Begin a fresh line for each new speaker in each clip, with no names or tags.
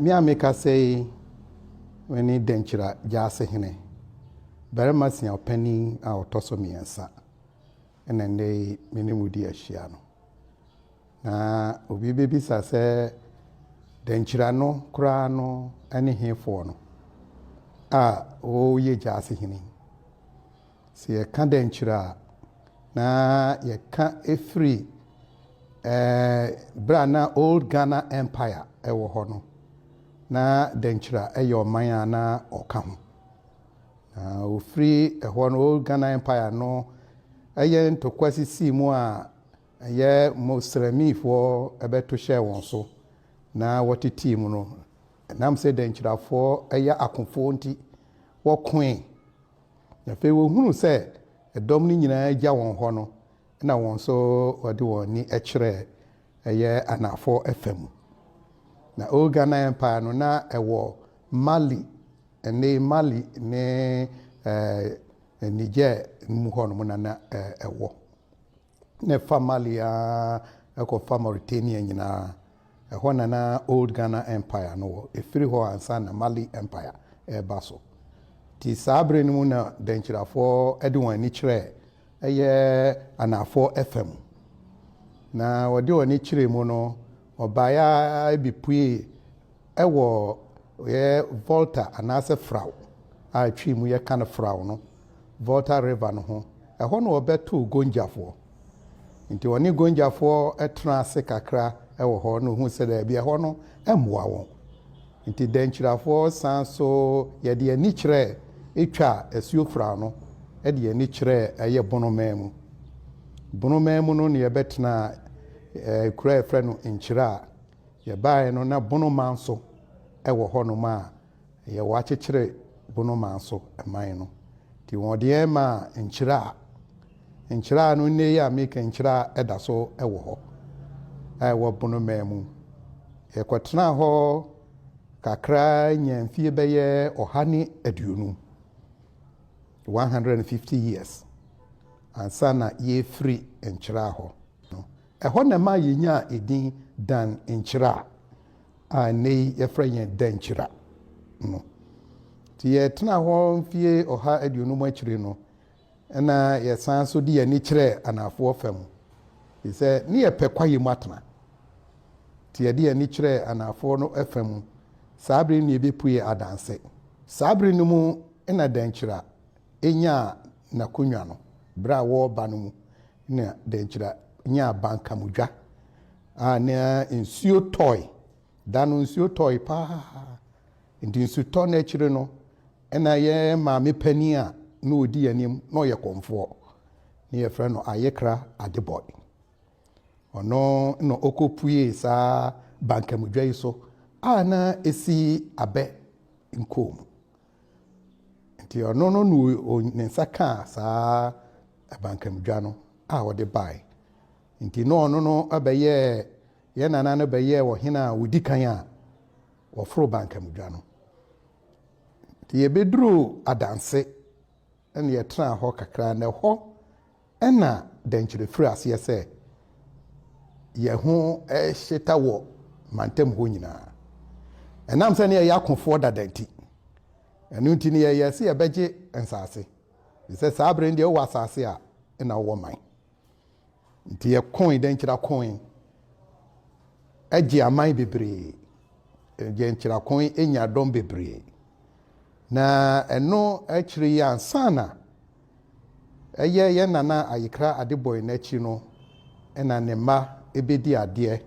Me a mekasa yi, mene Dankyira Gyaasehene, barima siaw panin a ɔtɔ so mmiɛnsa, ɛna nnɛ yi me ne mo di ahyia no. Na obi bɛbisa sɛ Dankyira no koraa no ne hefoɔ no a ɔyɛ Gyaasehene yi? Sɛ yɛka dɛnkyerɛ a, na yɛka firi berɛ a na Old Ghana Empire wɔ hɔ no, na dɛnkyerɛ a yɛ ɔman a na ɔka ho. Na ɔfiri ɛhɔ no, Old Ghana Empire no yɛ ntɔkwa sisii mu a ɛyɛ Mosramifoɔ bɛto hyɛɛ wɔn so na wɔtetee mu no. Ɛnam sɛ dɛnkyerɛfoɔ yɛ akofoɔ nti, wɔkoe. Na afei wɔhunuu sɛ dɔm no nyina ara gya wɔn hɔ no, na wɔn nso wɔde wɔn ani kyerɛ ɛyɛ anaafoɔ ɛfa mu. Na Old Ghana Empire no na ɛwɔ Mali, ɛnne yi Mali ne ɛɛ Niger no mu hɔ nom na na ɛwɔ. na ɛfa Mali ara kɔfa Mauritania nyinaa. Ɛhɔ na na Old Ghana Empire no wɔ. Ɛfiri hɔ ansa na Mali Empire reba so. Nti saa berɛ no mu na Dankyirafoɔ de wɔn ani kyerɛɛ ɛyɛ anaafoɔ ɛfa mu. Na wɔde wɔn ani kyerɛɛ mu no, wɔbaeɛ ara bi puee ɛwɔ yɛ Volta anaasɛ Frao a twi mu yɛka no Frao no Volta River no ho. Ɛhɔ na wɔbɛtoo Gonjafoɔ. Nti wɔne Gonjafoɔ tenaa ase kakra wɔ hɔ na wɔhuu sɛ daabi ɛhɔ no mmoa wɔn. Nti Dankyirafoɔ san nso yɛde ani kyerɛɛ Etwa Asuofra no de ani kyerɛɛ ɛyɛ Bonomaa mu. Bonomaa mu no na yɛbɛtenaa kuro a yɛfrɛ no Nkyira a yɛbaeɛ no na Bonomaa nso wɔ hɔnom a Ɛyɛ wɔakyekyere bonomaa so man no. Nti wɔde yɛn maa nkyiraa. Nkyiraa no, nnɛ yi a mereka nkyiraa da so wɔ hɔ a ɛwɔ bonomaa mu. Yɛkɔtenaa hɔ kakra nyaa mfie bɛyɛ ɔha ne aduonum, 150 years, ansa na yɛrefiri nkyiraa hɔ. Ɛhɔ na ɛma yenyaa edin Dan Nkyira a nnɛyi yɛfrɛ yɛn Dankyira no. Nti yɛtenaa hɔ mfeɛ ɔha aduonum akyire no, ɛna yɛsan so de yɛn ani kyerɛɛ anaafoɔ fam, ɛfiri sɛ ne yɛpɛ kwaeɛ mu atena. Nti yɛde yɛn ani kyerɛɛ anaafoɔ no fa mu. Saa bere no na yɛbɛpuee Adanse. Saa bere no mu na Dankyira nyaa n'akonnwa no berɛ a wɔreba no mu. na dɛnkyira nyaa abankamudwa a na nsuo tɔe. Da no nsuo tɔe paa nti nsutɔ no akyire no na yɛn maame panin a na ɔdi yɛn anim na ɔyɛ kɔmfoɔ na yɛfrɛ no Ayekra Adeboy. Ɔno na ɔkɔpuee saa bankamudwa yi so a na ɛsi abɛ nkoo mu. Nti ɔno no na ne nsa kaa saa abankamdwa no a ɔde bae. Nti na ɔno no bɛyɛɛ, yɛn nana no bɛyɛɛ ɔhene a ɔdi kan a wɔforo bankamdwa no. Nti yɛbɛduruu Adanse. Ɛnna yɛtenaa hɔ kakra, na ɛhɔ na dɛnkyɛmma firii aseɛ sɛ yɛn ho rehyeta wɔ mantam hɔ nyinaa. Ɛnam sɛ na yɛyɛ akofoɔ dada nti, ɛno nti na yɛyɛɛ sɛ yɛbɛgye nsase, ɛfiri sɛ saa berɛ no deɛ wowɔ asase a na wowɔ man. Nti yɛkooe dɛ nkyirakoe gyee aman bebree, gyee nkyirakoe nyaa dɔm bebree. Na ɛno akyire yi ansana ɛyɛ yɛn Nana Ayekra Adeboe no akyi no na ne mma bɛdii adeɛ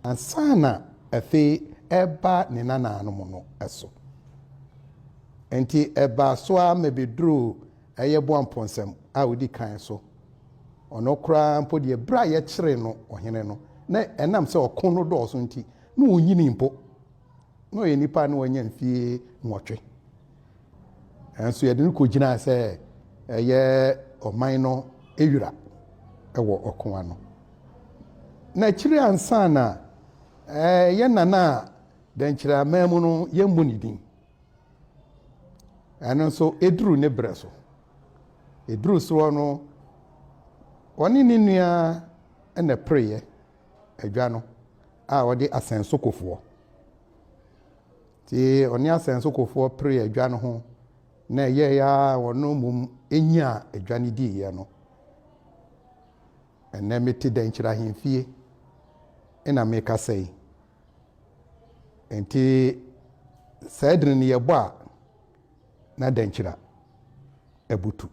ansana afei ɛreba ne nanaanom no so. Nti ɛbaa so ara ma bɛduruu Ɛyɛ Boampɔnsɛm a odi kan so. Ɔno koraa mpo deɛ, berɛ a yɛkyeree no ɔhene no, na ɛnam sɛ ɔko no dɔɔso nti, na ɔnnyinii mpo. Na ɔyɛ nipa a na wanya mfeɛ nwɔtwe. Nanso yɛde no kɔgyinaa sɛ ɛyɛ ɔman no wira wɔ ɔko ano. Na akyiri ansa na yɛn nana a dɛnkyerɛ aman mu no, yɛmmu ne din. Ɛno nso ɛduru ne berɛ so. Ɛduru soɔ no, ɔne ne nua na ɛpereeɛ adwa no a ɔde asɛnsokofoɔ. Nti ɔne asɛnsokofoɔ pereeɛ adwa no ho na ɛyɛeɛ a wɔn mmom nyaa adwa no diiɛ no. Ɛnnɛ mete Dɛnkyerɛ Ahemfie na mekasa yi. Enti saa adini no yɛbɔ a na dankyira abutu.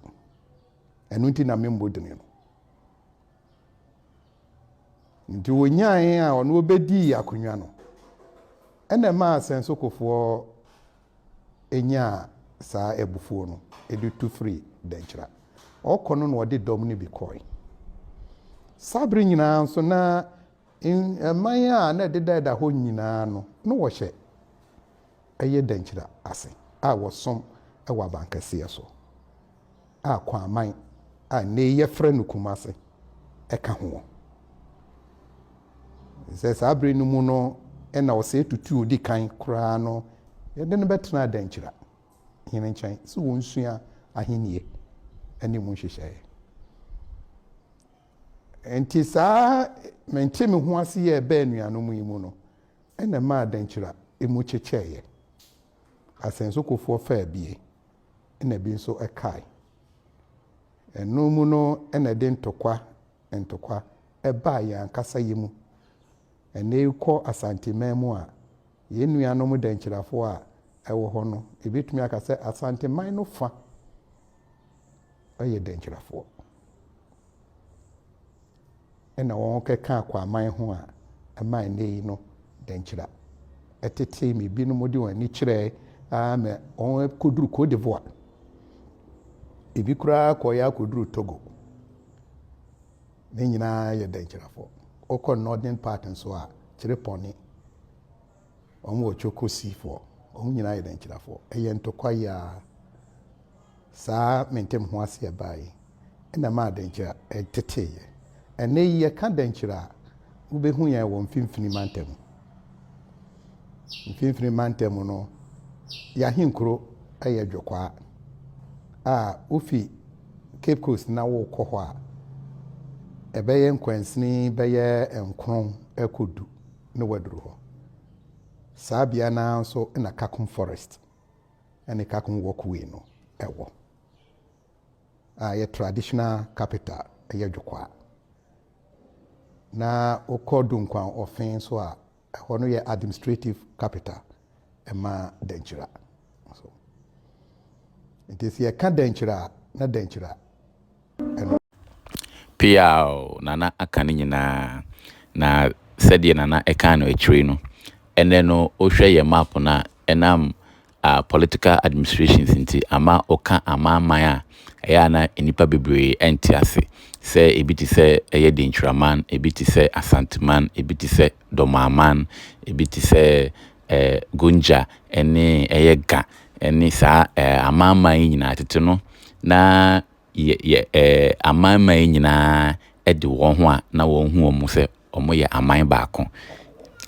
Ɛno nti na memmɔ dini no. Nti wɔnyae a ɔno ɔbɛdii akonnwa no. Ɛna ɛmaa asɛnsokofoɔ nyaa saa abufuo no de tu firi dankyira. Ɔkɔ no na ɔde dɔm no bi kɔe. Saa bere nyinaa nso na Mman a na ɛdedaeda hɔ nyinaa no, na wɔhyɛ ɛyɛ dankyira ase a wɔsom wɔ abankɛseɛ so, a Kwaman a nnɛ yi yɛfrɛ no Kumase ka ho. Ɛfiri sɛ saa berɛ no mu no na ɔsɛe tutuo ɔdi kan koraa no, yɛde no bɛtenaa dankyira hene nkyɛn sɛ ɔnsua ahennie ne mu nhyehyɛeɛ. Ɛnte saa ara mente me ho ase yɛɛ bɛɛ anuanom yi mu no na ɛmaa dankyira mu kyekyɛeɛ. Asɛnsokofoɔ faa bi na bi nso kae. Ɛno mu no na ɛde ntɔkwa ntɔkwa baa yɛn ankasa yɛ mu. Ɛnnɛ yi kɔ Asanteman mu a, yɛn nuanom dankyirafoɔ a ɛwɔ hɔ no, yɛbɛtumi aka sɛ Asanteman no fa. yɛ dɛnkyerɛfoɔ. Ɛna wɔkɛka akwaaman ho a ɛma ɛnɛ yi no dɛnkyerɛ ɛtetee me binom de wɔn ani kyerɛɛ aa mɛ wɔn kɔduru Cote d'Ivoire. Ebi koraa kɔyɛ akɔduru Togo. Ne nyinaa yɛ dɛnkyerɛfoɔ. Wokɔ northern part nso a kyerɛ pɔne. Wɔn wɔ Chokosifoɔ. Wɔn nyinaa yɛ Dankyirafoɔ. Ɛyɛ ntɔkwa yi ara saa mentem ho aseɛ baa yi na ɛmaa Dankyira teteeɛ. Ɛnnɛ yi yɛka Dankyira a, wobɛhu yɛn wɔ Mfimfini Mantam. Mfimfini Mantam no, yɛn ahenkuro yɛ Dwokwaa a wofi Cape Coast na wokɔ hɔ a, ɛbɛyɛ nkwansini bɛyɛ nkron kɔ du na waduru hɔ. Saa bea no ara nso na Kakum Forest ne Kakum Walkway no wɔ, a ɛyɛ traditional capital, ɛyɛ Dwokwaa. Na wokɔ Dunkwan Ɔfe nso a, ɛhɔ no yɛ administrative capital ma Dankyira. So, nti sɛ yɛka Dankyira a, na Dankyira ɛno. Peaw! Nana aka ne nyinaa. Na sɛdeɛ Nana ɛkaa no akyire no, ɛnnɛ no wo hwɛ yɛn map no a, ɛnam ah political administrations nti ama wo ka amanaman a ɛyɛ a na nnipa bebree ɛnte ase. Sɛ ɛbi te sɛ ɛyɛ Denkyiraman, ɛbi te sɛ Asanteman, ɛbi te sɛ Dɔmanman, ɛbi te sɛ eh Gonja ɛne ɛyɛ Ga ɛne saa eh amanaman yi nyinaa. Tete no na yɛ amanaman yi nyinaa de wɔn ho a na wɔhu wɔn mu sɛ wɔyɛ aman baako.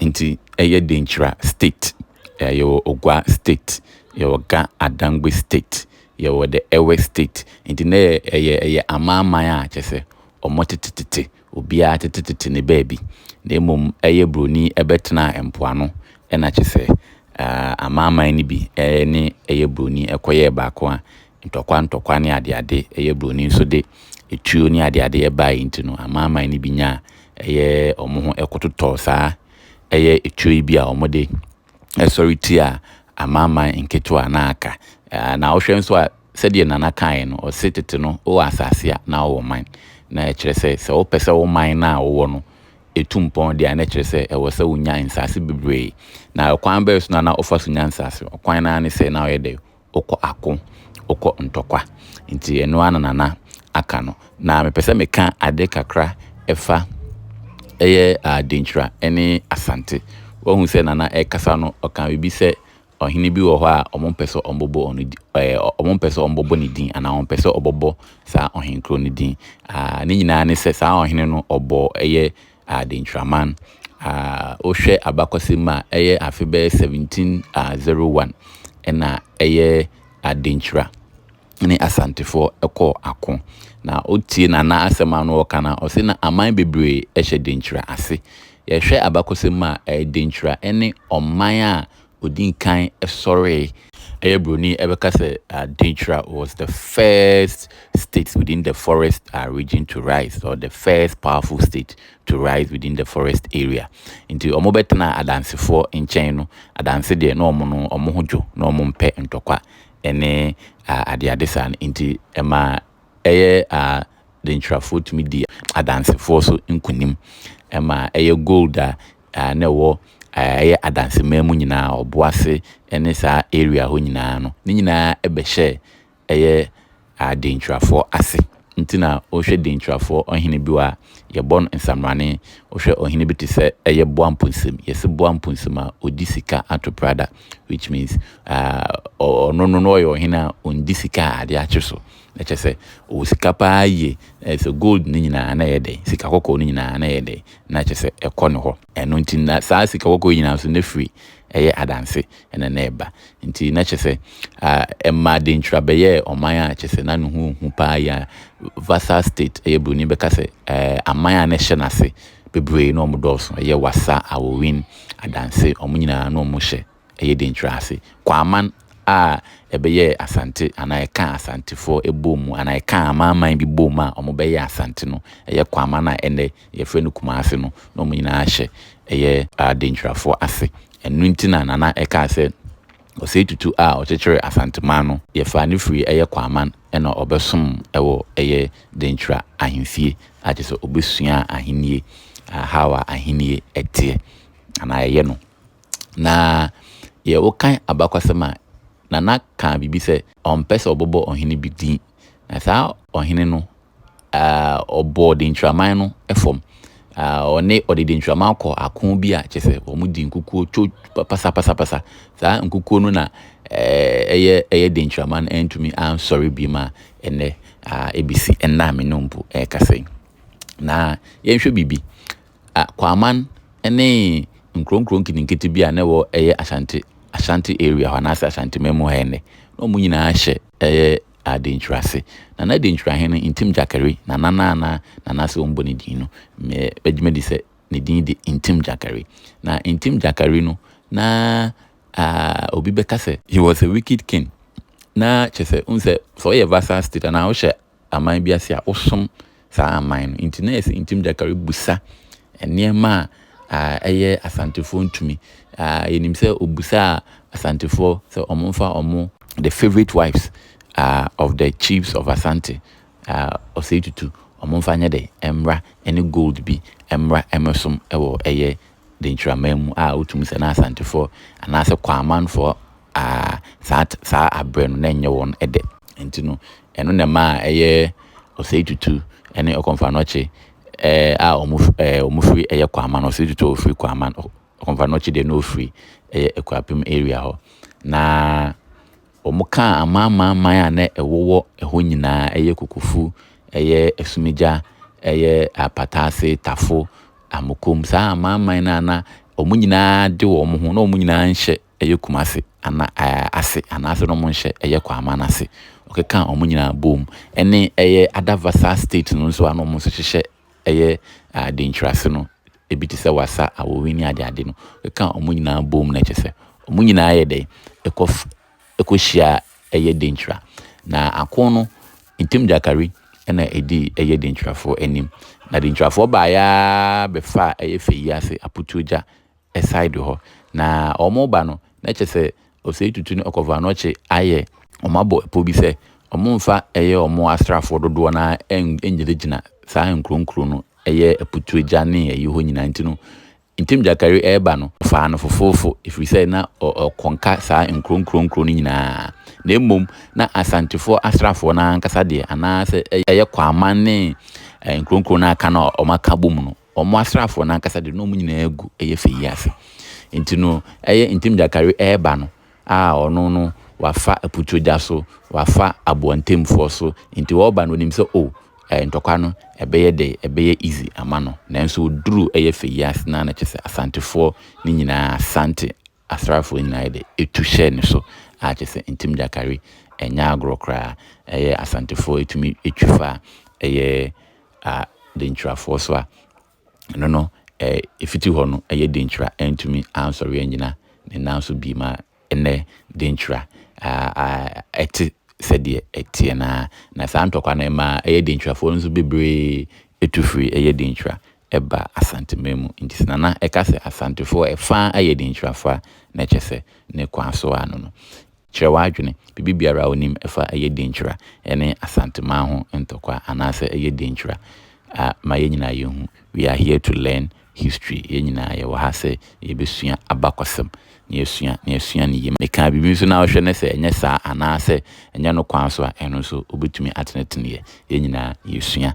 Nti ɛyɛ Denkyira state, yɛwɔ Ogua state, yɛwɔ Ga Adangbe state, yɛwɔ the Ewe state. Nti na ɛyɛ ɛyɛ amanaman a kyerɛ sɛ wɔtetetete Obiara tetetete ne baabi, na mmom ɛyɛ buroni bɛtenaa mpoano, ɛna kyerɛ sɛ amanaman no bi ne ɛyɛ buroni kɔyɛɛ baako a ntɔkwa ntɔkwa ne adeade, ɛyɛ buroni nso de etuo ne adeade baeɛ nti no, amanaman no bi nyaa ɛyɛ wɔn ho kɔtotɔɔ saa ɛyɛ etuo yi bi a wɔde sɔre tiaa amanaman nketewa na aka. Na wohwɛ nso a, sɛdeɛ Nana kaeɛ no, ɔse tete no wowɔ asase a na wowɔ man. Na ɛkyerɛ sɛ, sɛ wopɛ sɛ wo man no a wowɔ no tu mpɔn deɛ a, na ɛkyerɛ sɛ ɛwɔ sɛ wonya nsase bebree. Na ɛkwan bɛn so na na wofa so nya nsase? Ɔkwan no ara ne sɛ na woyɛ dɛn? wokɔ ako, wokɔ ntɔkwa. Nti ɛno ara na Nana aka no. Na mepɛ sɛ meka ade kakra fa ɛyɛ Denkyira ne Asante. Woahu sɛ Nana rekasa no, ɔkaa biribi sɛ ɔhene bi wɔ hɔ a wɔmpɛ sɛ wɔbobɔ ɔno di ɛɛ wɔmpɛ sɛ wɔbobɔ ne din anaa wɔmpɛ sɛ wɔbobɔ saa ɔhenkuro no din. Ah ne nyinaa ne sɛ saa ɔhene no ɔbɔɔ ɛyɛ Adenkyiraman a wohwɛ abakɔsɛm mu a ɛyɛ afe bɛyɛ 1701 ɛna ɛyɛ Adenkyira ne Asantefoɔ ɛkɔɔ ako. Na wotie Nana asɛm a na ɔka no a ɔse na aman bebree ɛhyɛ Denkyira ase. Yɛhwɛ abakɔsɛm mu a Denkyira ɛne ɔman a ɔdii kan sɔree yɛ buroni bɛka sɛ Denkyira was the first state within the forest region to rise or the first powerful state to rise within the forest area nti wɔn bɛtena adansefoɔ nkyɛn no adanse deɛ na wɔn no wɔn ho dwo na wɔn mpɛ ntɔkwa ɛne adeade saa no nti ɛma ɛyɛ Denkyirafoɔ tumi di adansefoɔ so nkunim ɛma ɛyɛ gold a na ɛwɔ ɛyɛ adanseman mu nyinaa, ɔboase ne saa area hɔ nyinaa no, ne nyinaa bɛhyɛɛ ɛyɛ Denkyirafoɔ ase. Nti na wohwɛ Denkyirafoɔ ɔhene bi wɔ a, yɛbɔ no Nsamrane. Wohwɛ ɔhene bi te sɛ ɛyɛ Boamponsem, yɛse Boamponsem a, ɔdi sika ato Prada, which means ɔno no na ɔyɛ ɔhene a ɔndi sika a adeɛ akye so. Na kyerɛ sɛ, ɔwɔ sika paa yie. Sɛ gold no nyinaa na ɛyɛ dɛn, sika kɔkɔɔ no nyinaa na ɛyɛ dɛn, na kyerɛ sɛ ɛkɔ ne hɔ. Ɛno nti na saa sika kɔkɔɔ yi nyinaa nso na firi ɛyɛ adanse na na ɛba. Nti na kyerɛ sɛ ɛmaa Denkyira bɛyɛɛ ɔman a kyerɛ sɛ na ne ho hu paa yi a Vassal State, ɛyɛ Buroni bɛka sɛ aman a na ɛhyɛ n'ase bebree na wɔdɔɔso, ɛyɛ Wassa, Awowin, Adanse, wɔn nyinaa na wɔhyɛ ɛyɛ den kyerɛ ase. Kwaaman a ɛbɛyɛɛ Asante anaa ɛkaa Asantefoɔ bɔɔ mu anaa ɛkaa amanaman bi bɔɔ mu a wɔbɛyɛɛ Asante no, ɛyɛ Kwaaman a ɛnnɛ yɛfrɛ no Kumase no na wɔn nyinaa hyɛ ɛyɛ Adenkyirafoɔ ase. Ɛno nti na Nana ɛkaa sɛ Osei Tutu a ɔkyekyeree Asanteman no, yɛfaa no firii ɛyɛ Kwaaman na ɔbɛsom wɔ ɛyɛ Denkyira ahemfie a kyerɛ sɛ ɔbɛsuaa ahennie, how a ahennie teɛ anaa ɛyɛ no. Na yɛ wokan abakwasɛm a, Nana kaa biribi sɛ ɔmpɛ sɛ ɔbɔbɔ ɔhene bi din. Na saa ɔhene no, ah, ɔbɔɔ denkyiraman no fam. Ah, ɔne ɔde denkyiraman kɔ ako bi a kyerɛ sɛ wɔn di nkukuo two pasa pasa pasa. Saa nkukuo no na ɛyɛ ɛyɛ denkyiraman no antumi ansɔre bi ma ɛnɛ ah, ebesi ɛnna a me ne mpo ɛrekasa yi. Na yɛnhwɛ biribi. Kwaaman ne nkuro nkuro nketenkete bi a na ɛwɔ ɛyɛ Ashanti Ashanti area hɔ anaasɛ Ashanti man mu ha ɛnnɛ. Na wɔn nyinaa hyɛ ɛyɛ Adenkyiri ase. Nana Adenkyiri ahene Ntim Gyakari, Nana no a na Nana sɛ wɔbɔ ne din no, me bɛgye madi sɛ ne din de Ntim Gyakari. Na Ntim Gyakari no, na ah, obi bɛka sɛ, he was a wicked king. Na kyerɛ sɛ, wohu sɛ, sɛ woyɛ vassal state anaa wohyɛ aman bi ase a wosom saa aman no. Nti na ɛyɛ sɛ Ntim Gyaka rebisa nneɛma a ɛyɛ Asantefoɔ ntumi. Yɛnim sɛ ɔbisaa Asantefoɔ sɛ wɔmfa wɔn the favourite wives of the chiefs of Asante, Osei Tutu, wɔmfa nyɛ dɛ mmra ne gold bi mmra mmɛsom wɔ ɛyɛ Denkyiraman mu a wotumi sɛ na Asantefoɔ anaasɛ Kwaamanfoɔ Aah, saa t saa aberɛ no na ɛnyɛ wɔn dɛ. Nti no, ɛno na ɛmaa ɛyɛ Osei Tutu ne Okomfa Anokye a wɔn f ɛɛ wɔn firi ɛyɛ Kwaman, Osei Tutu a ɔfiri Kwaman, Ɔ Okomfa Anokye deɛ na ɔfiri ɛyɛ Akuapem area hɔ. Na wɔkaa amanamanman a na ɛwowɔ ɛhɔ nyina ara, ɛyɛ Kukufu, ɛyɛ Asumigya, ɛyɛ Apataase, Tafo, Amokom, saa amanaman no a na wɔn nyina ara de wɔn ho, na wɔn nyina ara nhyɛ ɛyɛ Kumasi ana ɛɛ ase anaasɛ na wɔnhyɛ ɛyɛ Kwama no ase. Ɔkekaa wɔn nyinaa boom. Ɛne ɛyɛ ada Vasa state no nso a na wɔn nso hyehyɛ ɛyɛ Denkyira ase no, ebi te sɛ Wassa, Awowi ne adeade no. Ɔkekaa wɔn nyinaa boom na kyerɛ sɛ wɔn nyinaa yɛ dɛn, ɛkɔ ɛkɔhyia ɛyɛ Denkyira. Na ako no, Ntim Gyakari na ɛdii ɛyɛ Denkyirafoɔ anim. Na Denkyirafoɔ baeɛ ara bɛfaa ɛyɛ Fei ase, Aputuo gya. side hɔ na ɔmo ba no na kyerɛ sɛ Osei Tutu ne Ɔkɔfo Anokye ayɛ ɔmo abɔ pɔ bi sɛ ɔmo nfa ɛyɛ ɔmo asraafoɔ dodoɔ no ara ngyina gyina saa nkuro nkuro no ɛyɛ Aputuregya ne ɛyi hɔ nyinaa nti no Ntim Gyakari ɛɛba no ɔfaa no fofoofo ɛfiri sɛ na ɔkɔ nka saa nkuro nkuro nkuro no nyinaa na mmom na Asantefoɔ asraafoɔ no ara ankasa deɛ anaa sɛ ɛyɛ Kwaman ne nkuro nkuro no a aka no a ɔmo aka bɔ mu no. wɔn asraafoɔ no ankasa de na wɔn nyinaa gu ɛyɛ fɛ yi ase nti no ɛyɛ ntem gyakare ɛreba no a ɔno no wafa aputuro gya so wafa aboa ntemfoɔ so nti ɔreba no onim sɛ o ɛɛ ntɔkwa no ɛbɛyɛ dɛ ɛbɛyɛ easy ama no nanso oduru ɛyɛ fɛ yi ase na na kyɛ sɛ asantefoɔ ne nyinaa asante asraafoɔ nyinaa yɛ dɛ tu hyɛɛ ne so a kyerɛ sɛ Ntim Gyakare nyɛ agorɔ koraa. Ɛyɛ Asantefoɔ tumi twi fa ɛyɛ a Denkyirafoɔ so a ɛno no ɛfiti hɔ no ɛyɛ Denkyira antumi ansɔre annyina ne nan so bi ma ɛnnɛ Denkyira ɛte sɛdeɛ ɛteɛ no ara. Na saa ntɔkwa no ɛmaa ɛyɛ Denkyirafoɔ no nso bebree tu firii ɛyɛ Denkyira ɛba Asanteman mu nti sɛ Nana ɛka sɛ Asantefoɔ ɛfa a ɛyɛ Dinkyira fa na ɛkyɛ sɛ ne Kwaso a no no. Kyerɛ w'adwene, biribi biara a onim ɛfa ɛyɛ Dinkyira ɛne Asanteman ho ntɔkwa anaasɛ ɛyɛ Dinkyira a ma yɛn nyinaa yɛnhu. We are here to learn history, yɛn nyinaa yɛwɔ ha sɛ yɛbɛsua abakɔsɛm na yɛasua na yɛasua ne yie. Meka biribi nso na wohwɛ ne sɛ ɛnyɛ saa anaasɛ ɛnyɛ no Kwaso a ɛno nso wobɛtumi ateneteneɛ, yɛn nyinaa yɛsua.